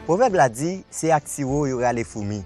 Pwovèb la di, se ak siwo yo rale foumi.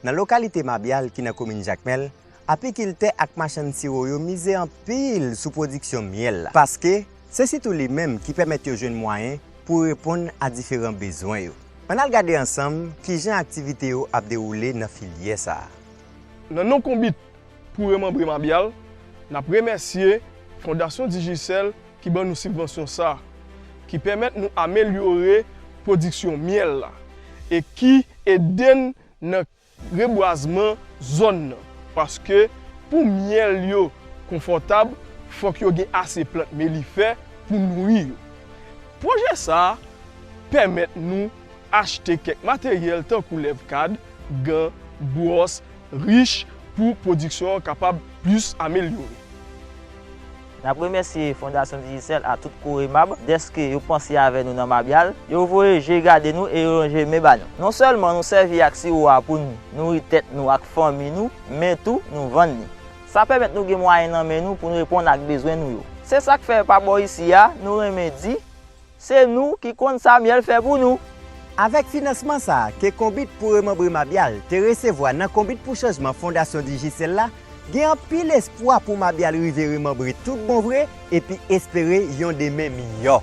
Nan lokalite Mabyal ki nan komin Jakmèl, apikiltè ak machann siwo yo mize anpil sou pwodiksyon myèl la paske, Se sitou li menm ki pèmèt yo jwenn mwayen pou reponn a diferan bezwen yo. Ann al gade ansanm ki jan aktivite yo ap dewoule nan filyè sa a. Nan non Konbit pou remanbre Mabyal, n ap remèsye Fondasyon Digicel ki ban nou sibvansyon sa a, ki pèmèt nou amelyore pwodiksyon myèl la e ki ede n nan. rebwazman zòn nan paske pou myèl yo konfòtab fòk yo gen ase plant melifè pou nouri yo. Pwojè sa a pèmèt nou achte kèk materyèl tankou lèv kad, gan, bwòs, rich pou pwodiksyon an kapab plis amelyore. N ap remèsye Fondasyon Digicel ak tout Coremab dèske yo panse avè nou nan Mabyal. Yo voye je gade nou e yo lonje men ba nou. Non sèlman nou sèvi ak siwo a pou n nouri tèt nou ak fanmi nou, men tou nou vann li. Sa pèmèt nou gen mwayen nan men nou pou n reponn ak bezwen nou yo. Se sa k fè pa bò isi a, nou renmen di. Se nou ki konn sa myèl fè pou nou. Avèk finansman sa a ke Konbit pou Remanbre Mabyal te resevwa nan Konbit pou Chanjman Fondasyon Digicel la, gen anpil espwa pou Mabyal rive remanbre tout bon vre epi espere yon demen miyò.